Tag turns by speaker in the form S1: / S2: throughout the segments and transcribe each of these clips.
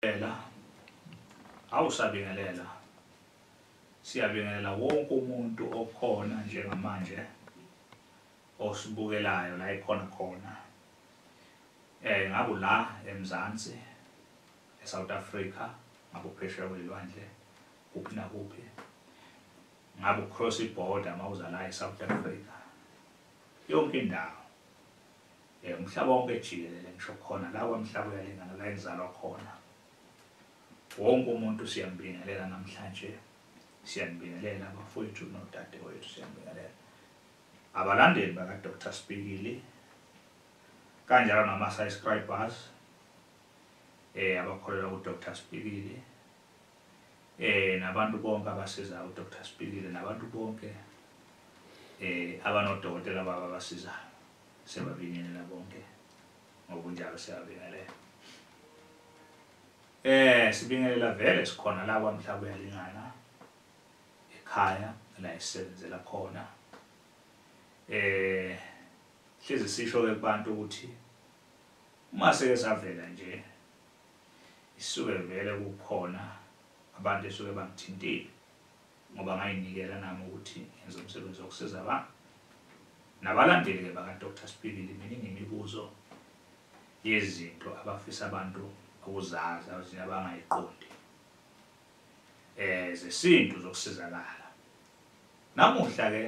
S1: Ela awusabingelela siyabingelela wonke umuntu okhona njengamanje osibukelayo la ikhona khona eh ngaku la eMzansi eSouth Africa ngakuphesheya kwelwandle kuphi na kuphi ngaku cross border mawuza la eSouth Africa yonke indawo um umhlaba wonke jikelele ngisho khona la kwamhlaba uyalingana la engizalwa khona wonke umuntu siyambingelela namhlanje siyanibingelela abafowethu nodadewethu siyanibingelela abalandeli bakadr spikili kanjalo nama-subscribers um abakholelwa kudr spikili um nabantu bonke abasizayo udr spikili nabantu bonke um abanodokotela babo abasizayo Siyababingelela bonke ngokunjalo siyabingelela. Eh sibingelela vele sikhona la kwamhlaba uyalingana ekhaya la esebenzela khona. Eh hlezi sisho ke kubantu ukuthi uma seke savela nje isuke vele kukhona abantu esuke bangithintile ngoba ngayinikela nami ukuthi ngenze umsebenzi wokusiza abantu nabalandeli-ke bakadr sibhibili mina ngemibuzo yezinto abafisa abantu ukuzazi abazinye abangayiqondi eh zesintu zokusizakala namuhla-ke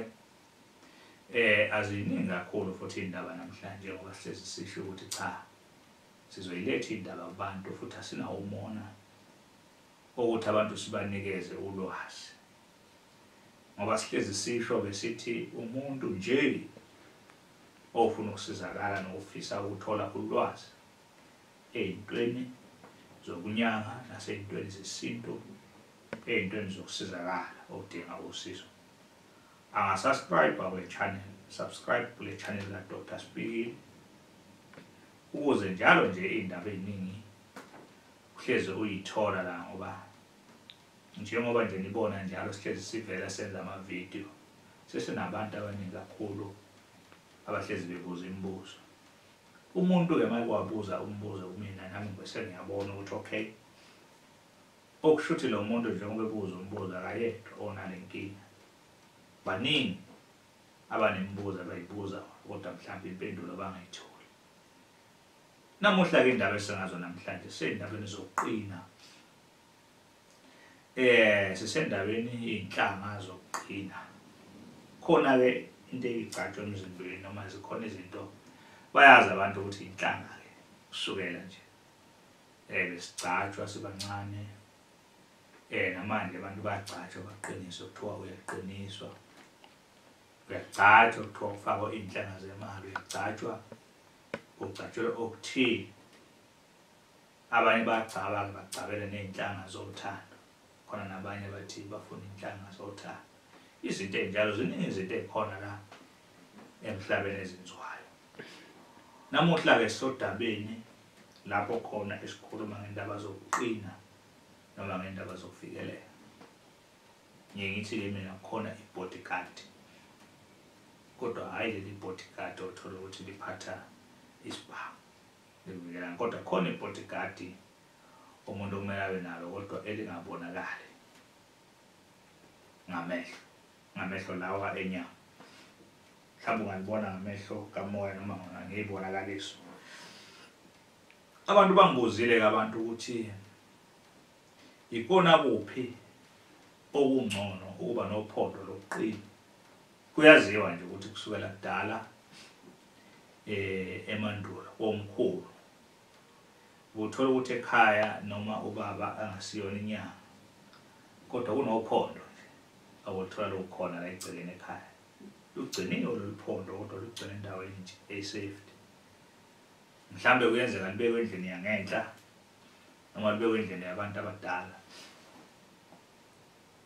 S1: eh aziningi kakhulu futhi indaba namhlanje ngoba sihlezi sisho ukuthi cha sizoyiletha indaba kubantu futhi asinawo umona ukuthi abantu sibanikeze ulwazi ngoba sihlezi sisho-ke sithi umuntu nje ofuna ukusizakala nokufisa ukuthola ulwazi ey'ntweni zokunyanga nasey'ntweni zesintu ey'ntweni zokusizakala odinga usizo angasubscribe-a kule channel subscribe kule channel kadr speaking ukuze njalo nje iy'ndaba ey'ningi uhlezi uyithola la ngoba njengoba nje nibona njalo sihlezi sivela senza amavidiyo sesinabantu abaningi kakhulu abahlezi bebuza imibuzo umuntu-ke uma kwabuza umbuzo kumina nami ngibese ngiyabona ukuthi okay okusho ukuthi lo muntu njengoba ebuza umbuzo akayedwa onale nkinga baningi abanemibuzo abayibuza kodwa mhlawumbe impendulo bangayitholi Namuhla-ke indaba esingazo namhlanje sey'ndabeni zokuqina. Eh sisendaweni iy'nhlanga zokuqina. Khona-ke into eyigcatshwa emzimbeni noma zikhona izinto bayazi abantu ukuthi inhlanga-ke kusukela nje eh besigcatshwa sibancane eh namanje abantu bagcatshwa baqiniswe kuthiwa uyaqiniswa uyagcatshwa kuthiwa kufakwa iy'nhlanga zemali uyagcatshwa Ugcatshwele okuthile. Abanye bagcaba bagcabele nezinhlanga zothando. Khona nabanye bathi bafuna inhlanga zothando. Izinto enjalo ziningi izinto ekhona la emhlabeni ezenziwayo. Namuhla ke sodabeni lapho khona esikhuluma ngendaba zokuqina noma ngendaba zokufikelela. ngiye ngithi ke mina khona i-bodyguard kodwa hhayi leli bodyguard othola ukuthi liphatha isibhamu livikelana kodwa khona i-bodyguard umuntu okumele abe nalo kodwa elingabonakali ngamehlo ngamehlo lawa enyama mhlawumbe ungalibona ngamehlo kamoya noma ngiyibonakaliso abantu bangibuzile-ke abantu ukuthi Yikona kuphi okungcono ukuba nophondo lokuqina? Kuyaziwa nje ukuthi kusukela kudala eh emandulo komkhulu uthola ukuthi ekhaya noma ubaba angasiyona inyanga kodwa kunophondo nje awuthola lokhona la egcekeni ekhaya lugciniwe lolu phondo kodwa lugcine endaweni nje eyi-safety mhlawumbe kuyenzeka libekwe endlini yangenhla noma libekwe indlela yabantu abadala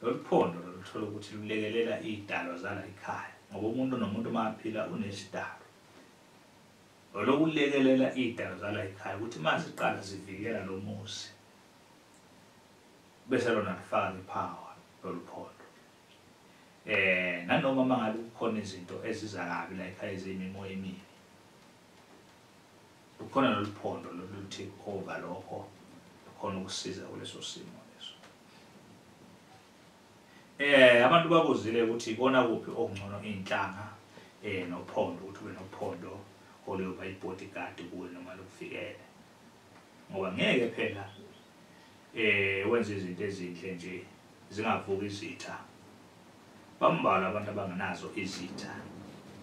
S1: lolu phondo loluthola ukuthi lulekelela iy'dalwa zala ikhaya ngoba umuntu nomuntu uma aphila unesidalo olokulekelela iy'dalo zala ikhaya ukuthi uma ziqala zivikela lo muzi bese lona lifaka liphawa lolu phondo um eh, nanoma uma ngabe kukhona izinto eziza kabi la ikhaya eziyimimoya emibi Lukhona loluphondo loluthi over lokho khona ukusiza kuleso simo leso. Eh abantu bakuzile ukuthi ikona kuphi okungcono inhlanga eh nophondo ukuthi ube nophondo oluyoba ibodyguard kuwe noma lokufikele. Ngoba ngeke phela eh wenza izinto ezinhle nje zingavuki izitha Bambalwa abantu abangenazo izitha.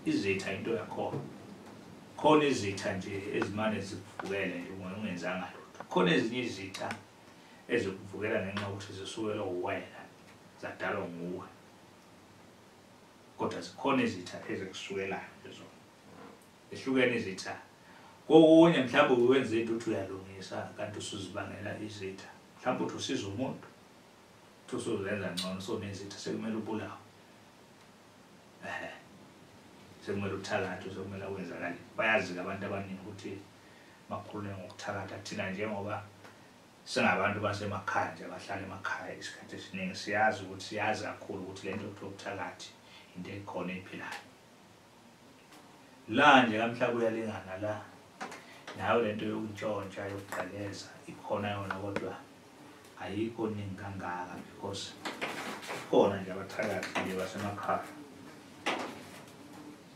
S1: Izitha into yakhona. Khona izitha nje ezimane zikuvukele nje ungenzanga lutho. Khona ezinye izitha ezikuvukela ngenxa ukuthi zisukelwe uwena zadalwa nguwe. Kodwa zikhona izitha ezikusukelayo lezo. Ehlukene izitha. Kokunye mhlawumbe uwenza into uthi uyalungisa kanti usuzibangela izitha. Mhlawumbe uthi usiza umuntu usuzenza ngcono so means ithi sekumele ubulawe ehe sekumele uthakathe sekumele kwenzakale bayazi-ke abantu abaningi ukuthi bakhulume ngokuthakatha thina njengoba singabantu basemakhaya nje abahlala emakhaya isikhathi esiningi siyazi ukuthi siyazi kakhulu ukuthi le nto kuthiwa ubuthakathi into ekhona ephilayo la nje kamhlaba uyalingana la nayo lento yokuntshontsha yokugqekeza ikhona yona kodwa ayikho ningi kangaka because khona nje abathakathi nje basemakhaya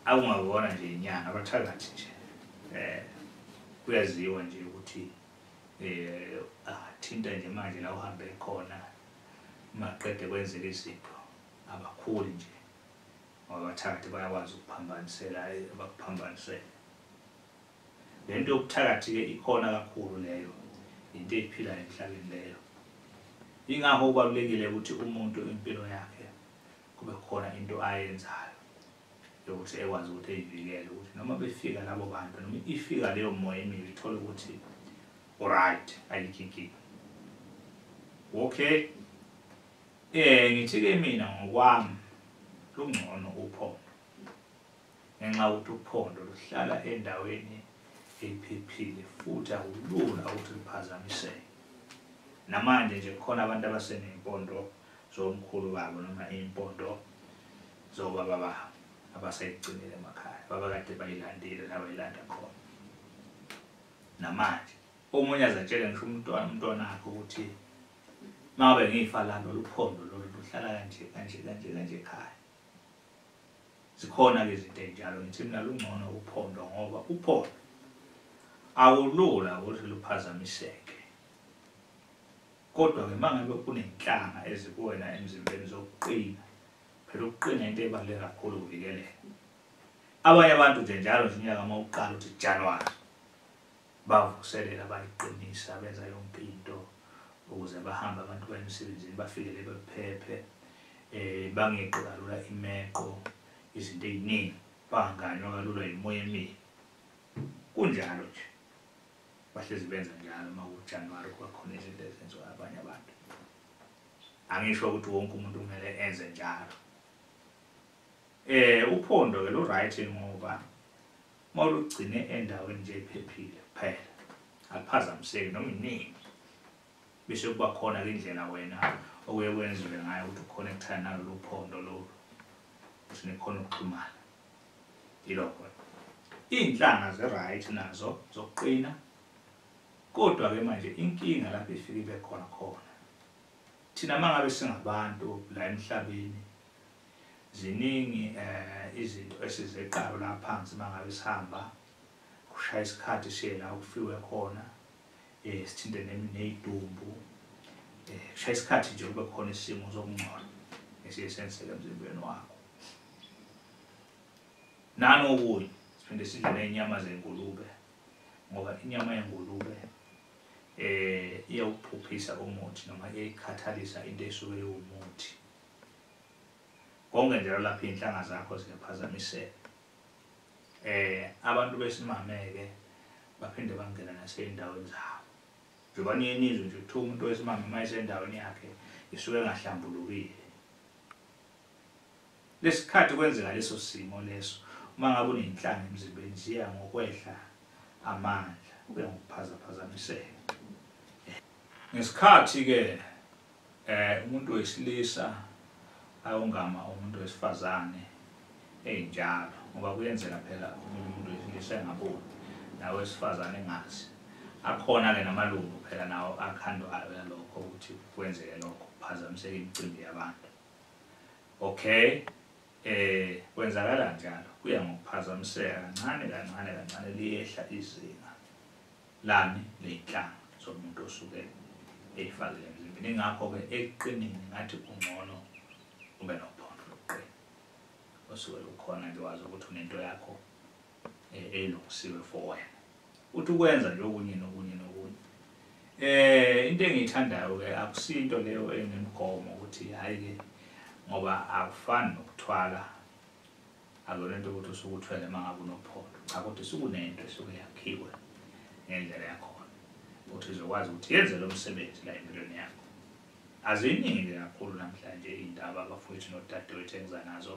S1: akungabona nje inyanga abathakathi nje um kuyaziwa nje ukuthi um athinta nje manje la uhambe khona maqede kwenzeka izinto abakhuli nje Abathakathi bayakwazi ukuphambanisela abakuphambanisele. Le nto yobuthakathi-ke ikhona kakhulu leyo, yinto eyiphilayo emhlabeni leyo. Yingakho kubalulekile ukuthi umuntu impilo yakhe kube khona into ayenzayo yokuthi ekwazi ukuthi eyivikele ukuthi noma befika labo bantu noma ifika leyo moya emibi ithole ukuthi uright ayikho inkinga okay Eh ngithi-ke mina ngokwami lungcono uphondo ngenxa yokuthi uphondo luhlala endaweni ephephile futhi akulula ukuthi liphazamiseke namanje nje kukhona abantu abaseney'mpondo zomkhulu babo noma iy'mpondo zobaba babo abasayigcinile emakhaya babakade bayilandile la bayilanda khona namanje omunye azatshele ngisho umntwana umntwana akhe ukuthi Mabe ngifa la noluphondo lolu luhlala kanje kanje kanje kanje ekhaya. Zikhona ke izinto enjalo ngithi mina lungcono uphondo ngoba uphondo awulula ukuthi luphazamiseke. Kodwa ke mangabe kunenhlanga ezikuwena emzimbeni zokuqina phela ukuqina into ebaluleke kakhulu ukuvikeleka. Abanye abantu nje njalo nje unyaka uma uqala uthi January Bavuselela bayiqinisa benza yonke into ukuze bahambe abantu baye emsebenzini bafikele bephephe eh bangeqi kalula imeqo izinto eziningi banganywa kalula imoya emibi kunjalo nje bahlezi benza njalo uma uJanuary kwakhona izinto ezenziwa abanye abantu angisho ukuthi wonke umuntu kumele enze njalo Eh uphondo ke lu right ngoba mawulugcine endaweni nje ephephile kuphela. Akuphazamiseki noma inini. Bese kuba khona ke indlela wena okuye kwenziwe ngayo ukuthi uconnectane nalolu phondo lolu. Ukuthi nikhona ukuxhumana. Yilokho. Iinhlanga ze right nazo zokuqina. Kodwa ke manje inkinga lapho ifike ibe khona khona. Thina mangabe singabantu la emhlabeni Ziningi eh, izinto esizeqalo la phansi mangabe sihamba kushaya isikhathi siye la okufiwe khona eh sithinte nezidumbu eh kushaya isikhathi nje kube khona isimo sokungcola esiye senzeke emzimbeni wakho nani okunye siphinde sidle nezinyama zengulube ngoba inyama yengulube eh iyawuphuphisa umuthi noma iyayikhathalisa into esuke iwumuthi konke njalo lapho iy'nhlanga zakho ziyaphazamiseka eh abantu besimameke baphinde bangena nasey'ndaweni zabo njengoba niye nizwe nje kuthiwa umuntu wesimame uma esendaweni yakhe isuke engahlambulukile lesikhathi kwenzeka leso simo leso uma ngabe uney'nhlanga emzimbeni ziya ngokwehla amandla kube ngokuphazaphazamiseka ngesikhathi-ke Eh umuntu wesilisa ayongama umuntu wesifazane enjalo ngoba kuyenzeka phela umuntu wesilisa engaboni nawe wesifazane engazi akhona ke namalungu phela nawo akhandwayo yalokho ukuthi kwenzeke lokho phazamiseke imicimbi yabantu okay eh kwenzakala njalo kuya ngokuphazamiseka kancane kancane kancane liyehla izinga lani leyinhlanga zomuntu osuke eyifakile emzimbeni ingakho-ke ekuqinini ngathi kungcono ube nophondo lokuqina osuke lukhona nje wazi ukuthi unento yakho eh, elungisiwe for wena uthi ukwenza nje okunye nokunye nokunye eh into engiyithandayo-ke akusinto leyo enemigomo ukuthi hhayi-ke ngoba akufani nokuthwala Akuyona into ukuthi usuke uthwele uma ngabe unophondo cha kodwa isuke unento esuke yakhiwe ngendlela yakhona ukuthi izokwazi ukuthi yenze lo msebenzi la empilweni yakho aziningi-ke kakhulu namhlanje iy'ndaba abafowethu nodadewethu engiza nazo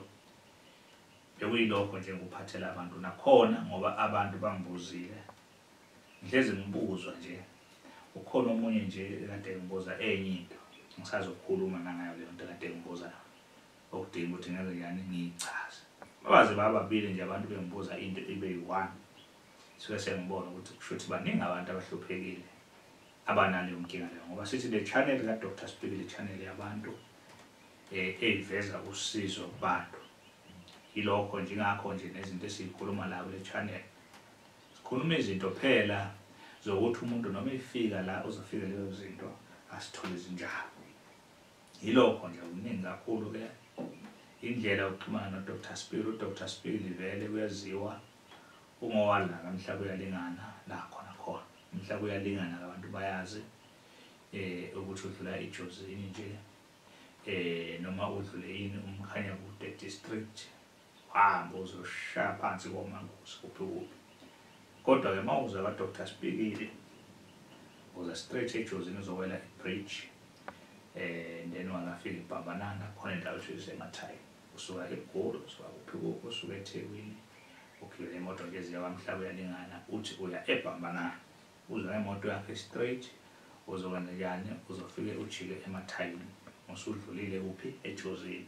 S1: bekuyilokho nje ngikuphathela abantu nakhona ngoba abantu bangibuzile ngihlezi ngibuzwa nje ukhona omunye nje kade ngibuza enye into ngisazokhuluma nangayo leyo nto kade ngibuza okudinga ukuthi ngenze njani ngiyichaze babaze bababili nje abantu bengibuza into ibe yi-one suke sengibona ukuthi kusho ukuthi baningi abantu abahluphekile abanaleyo nkinga leyo ngoba sithi le channel kadr speak le channel yabantu um eyiveza usizo kubantu yilokho njengakho nje nezinto esiyikhuluma la kule channel sikhuluma izinto phela zokuthi umuntu noma efika la uzofika lezo zinto asithole zinjalo Yilokho nje kuningi kakhulu ke indlela yokuxhumana noDr Spiri uDr Spiri vele kuyaziwa ungowala kamhlaba uyalingana la khona khona umhlaba uyalingana abantu bayazi eh ukuthi udlula ijozini nje eh noma udlule yini umkhanya kude district Hamba uzoshaya phansi komangosi kuphi kuphi. Kodwa-ke uma uza kaDr Sibhikile, uza straight ejozini uzowela ibridge um then wangafika ibhambanana khona indawo ethu isemathayi usuka egoli usuka kuphi kuphi usuka ethekwini ugibela imoto nje eziya kwamhlaba uyalingana uthi uya ebhambanana uza ngemoto yakhe straight uzokwenza njani uzofike ujike emathayini usudlulile kuphi ejozini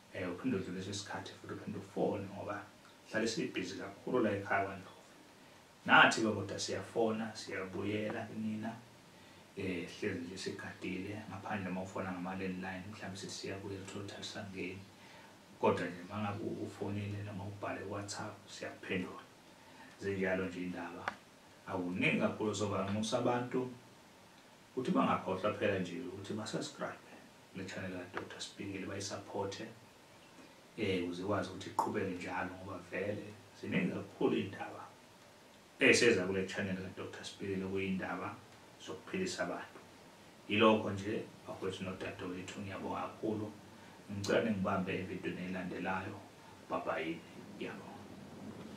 S1: Eh uphinde udlulise isikhathi futhi uphinde ufone ngoba hlale sibhizi kakhulu la ekhaya kwaNdlovu. Nathi ke kodwa siyafona siyabuyela kunina eh hlezi nje sigadile ngaphandle uma ufona ngama landline mhlawumbe sithi siyabuya uthola ukuthi asangeni kodwa nje mangabe ufonile noma ubhale WhatsApp siyaphendula zinjalo nje indaba awuningi kakhulu sobanxusa abantu Uthi bangakhohlwa kuphela nje ukuthi basubscribe le channel ka Dr Sibhingile bayisupport eh ukuze ikwazi ukuthi iqhubeke njalo ngoba vele ziningi kakhulu indaba eseza kule channel ka Dr Sibhingile kuyindaba zokuphilisa abantu yilokho nje bakwethu nodadewethu ngiyabonga kakhulu ngicela ningibambe evidweni elandelayo bye bye ngiyabonga